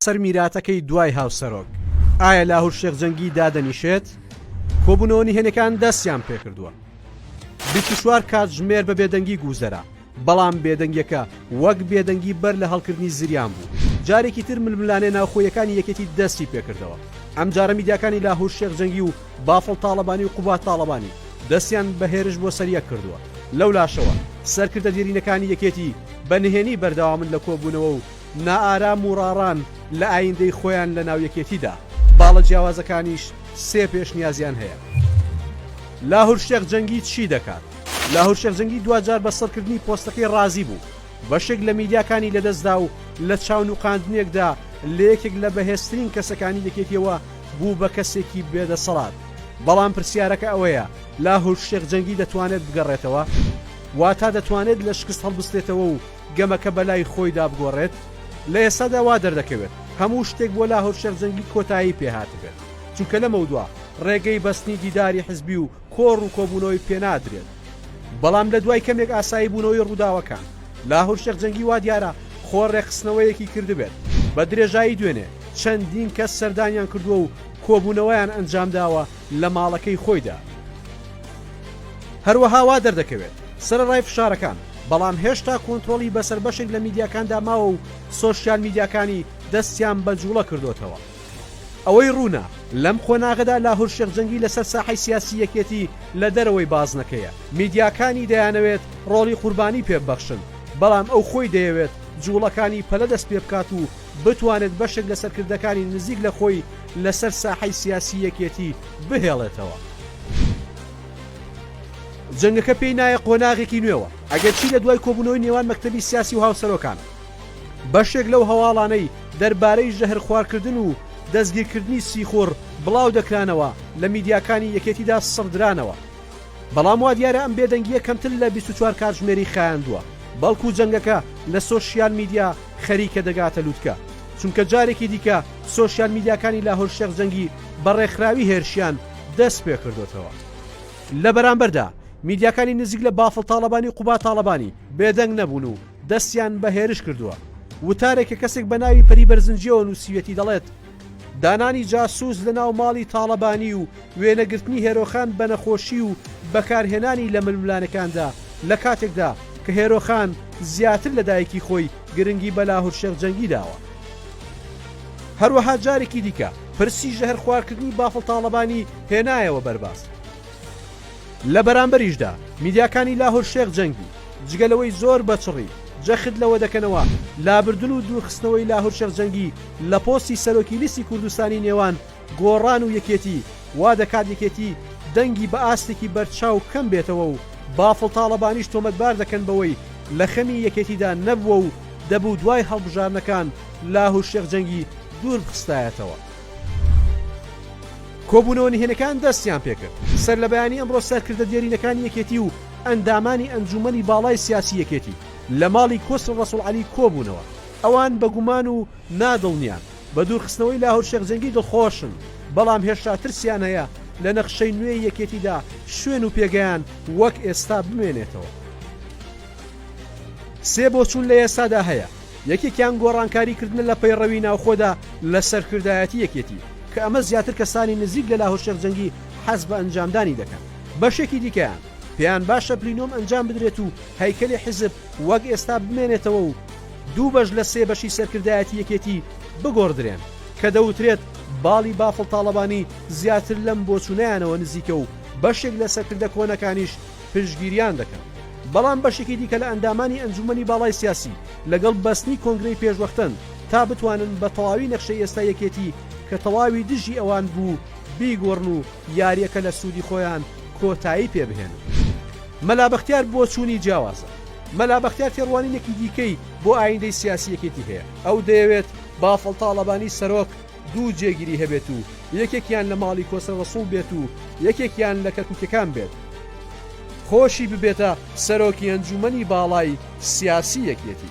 سەر میراتەکەی دوای هاوسەرۆک ئایا لاهور شێخ جەنگی دادەنیشێت کۆبوونەوە نهێنەکان دەستیان پێکردووە 24 کاتژمێر بە بێدەنگی گوزەرا بەڵام بێدەنگیەکە وەک بێدەنگی بەر لە هەڵکردنی زریان بوو جارێکی تر ململانێ ناوخۆیەکانی یەکێتی دەستی پێکردەوە ئەم جارە میدیاکانی لاهور شێخ جەنگی و بافڵ تاڵەبانی و قوباد تاڵەبانی دەستیان بە هێرش بۆ سەر یەک کردووە، لەولاشەوە سەرکردە دێرینەکانی یەکێتی بە نهێنی بەردەوامن لە کۆبوونەوە و نائارام و ڕاڕان لە ئایندەی خۆیان لە ناو یەکێتیدا، باڵە جیاوازەکانیش سێ پێشنیازیان هەیە. لاهور شێخ جەنگی چی دەکات؟ لاهور شێخ جەنگی دواجار بە سڕکردنی پۆستەکەی ڕازی بوو، بەشێک لە میداکانی لەدەستدا و لە چاونوقاندنێکدا لە یەکێک لە بەهێزترین کەسەکانی یەکێتیەوە بوو بە کەسێکی بێ دەسەڵات، بەڵام پرسیارەکە ئەوەیە لاهور شێخ جەنگی دەتوانێت بگەڕێتەوە؟ واتا دەتوانێت لە شکست هەڵبستێتەوە و گەمەکە بەلای خۆیدا بگۆڕێت؟ لە ئێستادا وا دەردەکەوێت هەموو شتێک بۆ لاهور شێخ جەنگی کۆتایی پێهاتبێت، چونکە لەمەودوا ڕێگەی بەستنی دیداری حزبی و کۆڕ و کۆبوونەوەی پێ نادرێت، بەڵام لە دوای کەمێک ئاسایی بوونەوەی ڕووداوەکان، لاهور شێخ جەنگی وا دیارە خۆ ڕێکخستنەوەیەکی کردبێت، بە درێژایی دوێنێ چەندین کەس سەردانیان کردووە و کۆبوونەوەیان ئەنجامداوە لە ماڵەکەی خۆیدا. هەروەها وا دەردەکەوێت سەرەڕای فشارەکان، بەڵام هێشتا کۆنترۆڵی بەسەر بەشێک لە میدیاکاندا ماوە و سۆشیال میدیاکانی دەستیان بە جووڵە کردۆتەوە. ئەوەی ڕوونە لەم قۆناغەدا لاهور شێخ جەنگی لەسەر ساحەی سیاسی یەکێتی لە دەرەوەی بازنەکەیە، میدیاکانی دەیانەوێت ڕۆڵی قوربانی پێ ببەخشن، بەڵام ئەو خۆی دەیەوێت جوڵەکانی پەلە دەست پێ بکات و بتوانێت بەشێک لە سەرکردەکانی نزیک لە خۆی لەسەر ساحەی سیاسی یەکێتی بهێڵێتەوە. جەنگەکە پێی نایە قۆناغێکی نوێوە، ئەگەرچی لە دوای کۆبوونەوەی نێوان مەکتەبی سیاسی و هاوسەرۆکان، بەشێک لەو هەواڵانەی دەربارەی ژەهرخوارکردن و دەستگیرکردنی سیخوڕ بڵاودەکرانەوە لە میدیاکانی یەکێتیدا سڕدرانەوە، بەڵام وادیارە ئەم بێدەنگییە کەمتر لە بیست و چوار کاتژمێری خایاندووە، بەڵکو جەنگەکە لە سۆشیال میدیا خەریکە دەگاتە لوتکە، چونکە جارێکی دیکە سۆشیال میدیاکانی لاهور شێخ جەنگی بە ڕێکخراوی هێرشیان دەستپێکردۆتەوە. لە بەرامبەردا میدیاکانی نزیک لە بافڵ تاڵەبانی و قوباد تاڵەبانی بێدەنگ نەبوون و، دەستیان بە هێرش کردووە. وتارێک کە کەسێک بە ناوی پەری بەرزنجیەوە نووسیوێتی دەڵێت، دانانی جاسووس لە ناو ماڵی تاڵەبانی و وێنەگرتنی هێرۆخان بە نەخۆشی و بەکارهێنانی لە ململانێکاندا لە کاتێکدا کە هێرۆخان زیاتر لە دایکی خۆی گرنگی بە لاهور شێخ جەنگی داوە. هەروەها جارێکی دیکە پرسی ژەهرخوارکردنی بافڵ تاڵەبانی هێنایەوە بەرباس. لە بەرامبەریشدا میدیاکانی لاهور شێخ جەنگی جگە لەوەی زۆر بە چڕی جەخت لەوە دەکەنەوە لابردن و دوورخستنەوەی لاهور شێخ جەنگی لە پۆستی سەرۆکی لیستی کوردستانی نێوان گۆڕان و یەکێتی وا دەکات یەکێتی دەنگی بە ئاستێکی بەرچاو کەم بێتەوە و بافڵ تاڵەبانیش تۆمەتبار دەکەن بەوەی لە خەمی یەکێتیدا نەبووە و دەبوو دوای هەڵبژاردنەکان لاهور شێخ جەنگی دووربخستایەتەوە. کۆبوونەوە نهێنەکان دەستیان پێکرد سەرلەبەیانی ئەمڕۆ سەرکردە دێرینەکانی یەکێتی و ئەندامانی ئەنجوومەنی باڵای سیاسی یەکێتی لە ماڵی کۆسرە ڕەسوڵ عەلی کۆبوونەوە ئەوان بە گومان و نا دڵنیا بە دوورخستنەوەی لاهور شێخ جەنگی دڵخۆشن بەڵام هێشتا ترسیان هەیە لە نەخشەی نوێی یەکێتیدا شوێن و پێگەیان وەک ئێستا بمێنێتەوە سێ بۆچوون لە ئێستادا هەیە یەکێکیان گۆڕانکاری کردنە لە پەیڕەوی ناوخۆدا لە سەرکردایەتی یەکێتی، کە ئەمە زیاتر کەسانی نزیک لە لاهور شێخ جەنگی حەز بە ئەنجامدانی دەکەن، بەشێکی دیکەیان پێیان باشە پلینۆم ئەنجام بدرێت و هەیکەلی حیزب وەک ئێستا بمێنێتەوە و دوو بەش لە سێ بەشی سەرکردایەتی یەکێتی بگۆڕدرێن، کە دەوترێت باڵی بافڵ تاڵەبانی زیاتر لەم بۆچوونەیانەوە نزیکە و بەشێک لە سەرکردە کۆنەکانیش پشتگیریان دەکەن، بەڵام بەشێکی دیکە لە ئەندامانی ئەنجوومەنی باڵای سیاسی لەگەڵ بەستنی کۆنگرەی پێشوەختەن تا بتوانن بە تەواوی نەخشەی ئێستای یەکێتی کە تەواوی دژی ئەوان بوو بیگۆڕن و یارییەکە لە سوودی خۆیان کۆتایی پێ بهێنن. مەلا بەختیار بۆچوونی جیاوازە. مەلا بەختیار تێڕوانینێکی دیکەی بۆ ئایندەی سیاسی یەکێتی هەیە، ئەو دەیەوێت بافڵ تاڵەبانی سەرۆک، دوو جێگیری هەبێت و یەکێکیان لە ماڵی کۆسرە ڕەسوڵ بێت و یەکێکیان لە کەرکوکیەکان بێت خۆشی ببێتە سەرۆکی ئەنجومەنی باڵای سیاسی یەکێتی.